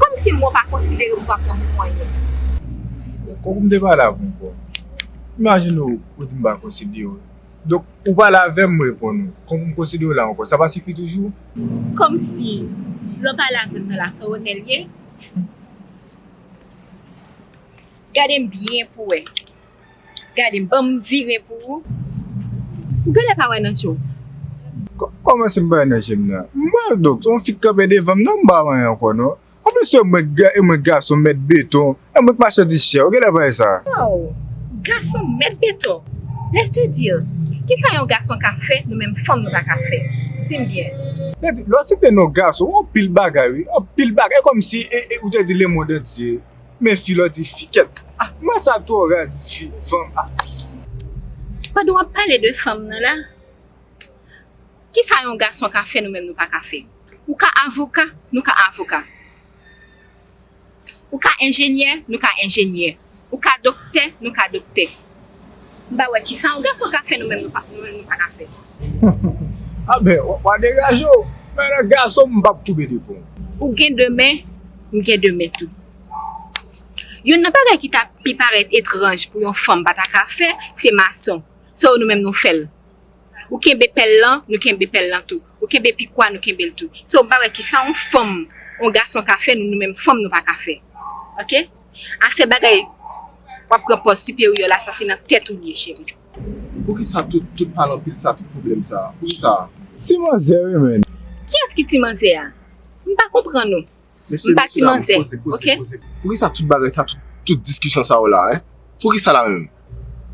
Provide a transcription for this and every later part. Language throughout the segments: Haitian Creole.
Kòmsi mwen pa konsidere ou kapon pou mwen ye? Tankou m te pale ak yon kò. Imajine w ou di m pa konsidere w. Donk ou pale avè m m reponn ou. Tankou m konsidere w la ankò. Sa pa sifi toujou? Kòmsi lè w pale avè m nan la Sorone l ye? Gade m byen pou w wè. Gadem banm vire pou ou. Ou genlè pa wè nan jew. Kòmanse m pa wè nan jem nan. M pral dòk se yon fi k kanpe devanm nan m pa wè anyen ankò non. Anplis se mwen k gason mèt beton e mwen k machandiz chè ou genlè pa wè sa. Waw gason mèt beton laisse te dire kisa yon gason ka fè nou menm fanm nou pa ka fè dim byen. Depi lè w site non gason ou wè anpil bagay wi anpil bagay e kòmsi ou te di lemond antye. Men fi lò di fi kèt. Ah man sa twò raz fi fanm ah. Pandan wap pale de fanm nan la kisa yon gason ka fè nou menm nou paka fè ou ka avoka nou ka avoka ou ka enjenyè nou ka enjenyè ou ka doktè nou ka doktè. M pa wè kisa yon gason ka fè nou menm nou pa ka fè. Anbè wa degaje w men lè gason m pap koube devan w. Ou gen de men, m gen de men tou. Youn nan bagay ki ta pi parèt etranj pou yon fanm pa ta ka fè, se mason. Sa yo nou menm nou fè l. Ou kenbe pèl lan, nou kenbe pèl lan tou. Ou kenbe pikwa, nou kenbe l tou. Sa w pa wè kisa yon fanm, yon gason ka fè nou menm fanm nou pa ka fè. Ok. Afè bagay wap pran pòz siperyè la sa se nan tèt ou liye cheri. Poukisa tout pale anpil sa tout pwoblem sa poukisa. Ti manzè wi menn. Kiyès ki ti manzè a? M pa konprann ou. M pa ti manzè ok. Poukisa tout bagay sa tout diskisyon sa yo la hein? Poukisa la menm?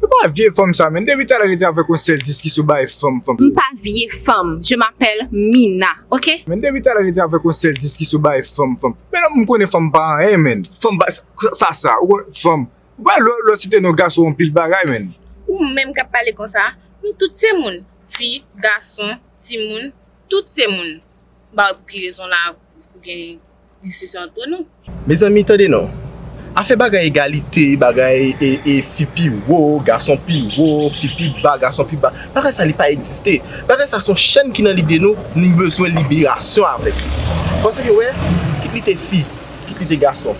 Ou pa vye fanm sa menn depi talè rete avèk yon sèl diskisyon ou bay fanm fanm yo. M pa vye fanm je m'appelle Mina ok. Menn depi talè rete avèk yon sèl diskisyon ou bay fanm fanm yo. Men lanmou m konnen fanm pa anyen menn. Fanm pa sa sa ou konnen fanm. Ou pa wè lè w site non gason anpil bagay menn. Ou menm kap pale konsa nou tout se moun fi gason timoun tout se moun m pa wè pou ki rezon la ou gen diskisyon antre nou. Mezanmi tande non. Afè bagay egalite, bagay e fi pi wo, gason pi wo, fi pi ba, gason pi ba, bagay sa li pa egziste. Bagay sa son chèn ki nan lide nou, nou bezwen liberasyon avèk li. Paske yo wè, kit li te fi, kit li te gason,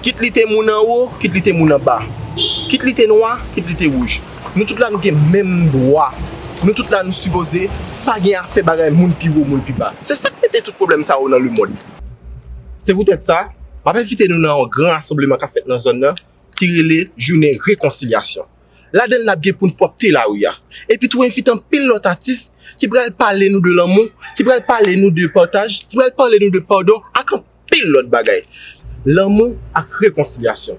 kit li te moun anwo, kit li te moun anba, kit li te nwa, kit li te wouj, Nou tout la nou gen menm dwa. Nou tout la nou sipoze pa gen afè bagay moun pi wo, moun pi ba. Se sa k mete tout pwoblèm sa yo nan lemond. Se poutèt sa, m ap envite nou nan yon gran rasanbleman k ap fèt nan zòn nan ki rele Jounen Rekonsilyasyon. Ladan l n ap gen pou n pwòpte lari a. Epi tou envite anpil lòt atis ki pral pale nou de lanmou, ki pral pale nou de pataj, ki pral pale nou de padon ak anpil. anpil lòt bagay. Lanmou ak rekonsilyasyon.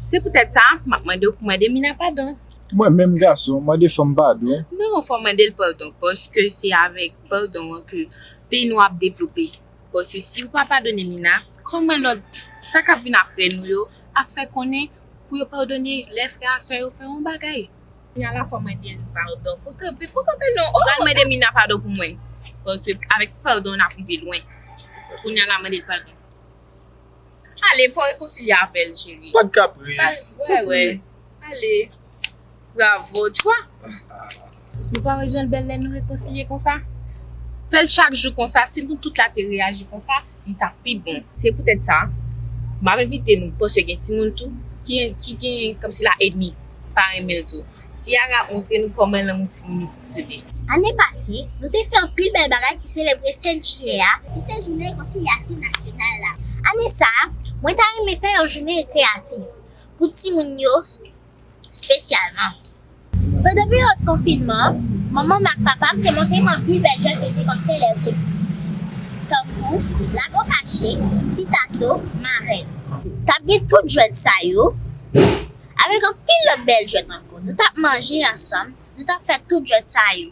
Se poutèt sa, m ap mande w pou mande Mina padon. Mwen menm gason, mande fanm padon. Non, fò w mande l padon, paske se avèk padon an ke peyi nou ap devlope. Paske si ou pa padone Mina, kòman lòt, sa k ap vin apre nou yo, ap fè konnen pou yo padone lè frè ak sè yo fè yon bagay? Kounya la fò mande l padon. Fò kanpe fò kanpe non oh. Pral mande Mina padon pou mwen. Paske avèk padon nap rive lwen. Kounya la mande l padon. Ale fò rekonsilye avèl cheri. Pat kapris. Wè wè. Ale. Bravo tu wà. Nou pa wè janl bèl lè nou rekonsilye konsa. Fèl chak jou konsa si nou tout la te reyaji konsa li tap pi bon. Se poutèt sa, map envite nou panse gen timoun tou ki gen kòmsila edmi pa renmen l tou. Ciara montre nou kòman lanmou timoun yo fonksyone. Ane pase, nou te fè anpil bèl bagay pou selebre 7 jiyè a ki se jounen rekonsilyasyon nasyonal la. Ane sa a, mwen ta renmen fè yon jounen rekreyatif pou timoun yo spesyalman. Pandan peryòd konfinman an, manman m ak papa m te montre m anpil bèl jwèt yo te konn fè lè yo te piti, tankou lago kache, ti tato, marèn. T ap gen tout jwèt sa yo avèk anpil lòt bèl jwèt ankò. Nou t ap manje ansanm, nou t ap fè tout jwèt sa yo.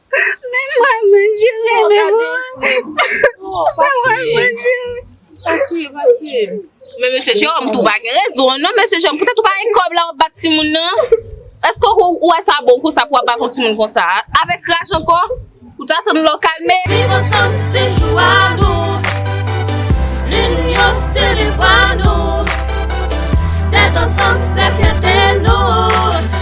Men mwen mwen jere Oh, men gade mwen Fred. Oh, pa mwen kriye. mwen jere. Pa kriye, pa kriye. Men mesye Jérôme tou pa gen rezon non mesye Jérôme poutèt ou pa gen kòb la wap bat timoun nan Eske ou ou wè sa bon konsa pou wap bat yon timoun konsa avèk raj ankò ou ta tann lè w kalme. Viv ansanm se chwa nou Linyon se devwa nou Tèt ansanm fè fyète nou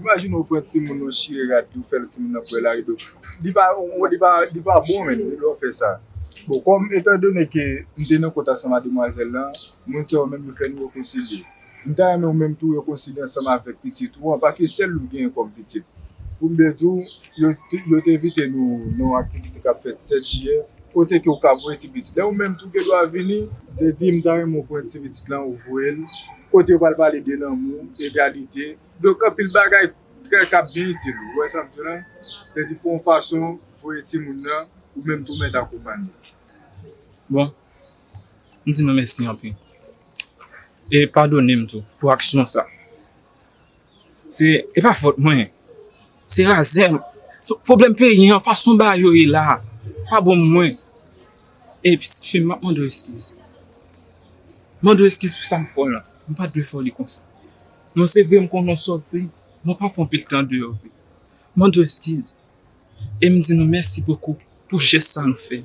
Imagine ou pran timoun ou chire rad li ou fèl timoun nan pwèl ari do li pa li pa bon menn lè ou fè sa bon kòm etan done ke m te nan kont ansanm a demwazèl lan moun sa yo menm yo fè nou rekonsilye m ta renmen ou menm tou rekonsilye ansanm avèk pitit ou an paske sèl ou genyen kòm pitit pou m byen di w yo te envite nou nan yon aktivite k ap fèt 7 jiyè kote ke ou ka voye ti pitit la ou menm tou gen dwa vini m te di m ta renmen ou pran ti pitit lan ou voye l kote yo pral pale de lanmou, egalite. Donk anpil bagay kè kap byen itil ou wè sam di la lè di fè yon fason voye timoun nan ou menm tou mèt akonpanye. Bon m di nou mèsi anpil e padone m tou pou aksyon sa se epa fòt mwen. Se razè m. Pwoblèm peyi an, fason bagay yo ye la a, pa bon pou mwen. Ey pitit fi m, m ap mande w eskiz. M mande w eskiz pou sa m fè w lan. M pa t dwe fè w li konsa. Bon se vre m konnen w sòti, men w pa fè anpil tan deyò vre. M mande w eskiz. E m di nou mèsi bokou pou jès sa nou fè.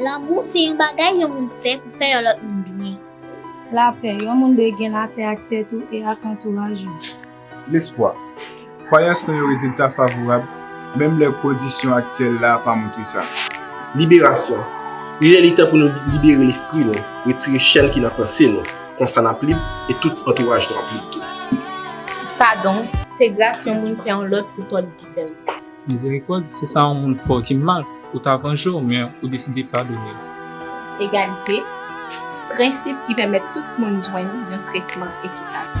Lanmou se yon bagay yon moun fè pou fè yon lòt moun byen. Lapè, yon moun dwe gen lapè ak tèt ou e ak antouraj ou. Lespwa, kwayans nan yon rezilta favorab menm lè kondisyon aktyèl la pa montre sa. Liberasyon, li lè li tan pou nou libere lespri nou, retire chèn ki nan panse nou, konsa n ap lib e tout antouraj nou ap lib tou. Padon, se gras yon moun fè yon lòt pou tò li te fè. 24. Mizerikòd, se sa yon moun fè w ki mal, ou ta vanje w, men ou deside padone l. Egalite, prensip ki pèmèt tout moun jwenn yon tretman ekitab.